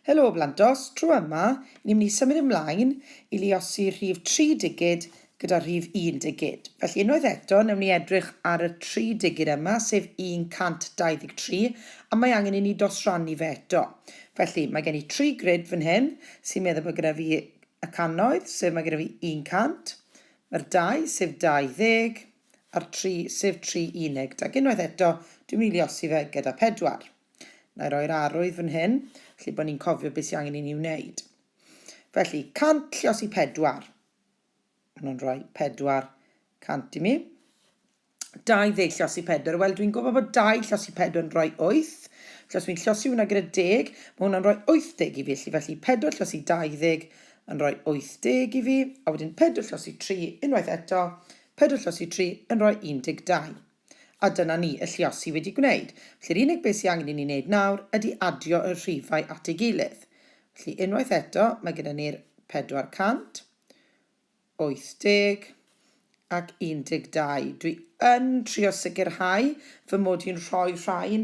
Helo Blandos, tro yma, ni'n mynd i symud ymlaen i luosi rhif tri digid gyda rhif un digid. Felly unwaith eto, newn ni edrych ar y tri digid yma, sef 123, a mae angen i ni dosrannu fe eto. Felly, mae gen i tri grid fan hyn, sy'n meddwl bod gyda fi y cannoedd, sef mae gyda fi 100, mae'r dau, sef 20, ar tri, sef tri unig, ac unwaith eto, dwi'n mynd i liosi fe gyda pedwar. Na i roi'r arwydd fan hyn, felly bod ni'n cofio beth sy'n angen i ni wneud. Felly, 100 liosi pedwar. Maen nhw'n rhoi pedwar cant i mi. 20 llosi pedwar. Wel, dwi'n gwybod bod 2 llosi pedwar yn rhoi 8. Felly, os fi'n llosi hwnna gyda 10, mae hwnna'n rhoi 80 i fi. Felly, felly 4 llosi 20 yn rhoi 80 i fi. A wedyn 4 llosi 3, unwaith eto, Pedwar lluosi tri yn rhoi 12. A dyna ni, y lluosi wedi gwneud. Felly'r unig beth sydd angen i ni wneud nawr ydy adio y rhifau at ei gilydd. Felly unwaith eto, mae gyda ni'r 480 ac 12. Dwi yn trio sicrhau fy mod i'n rhoi rhain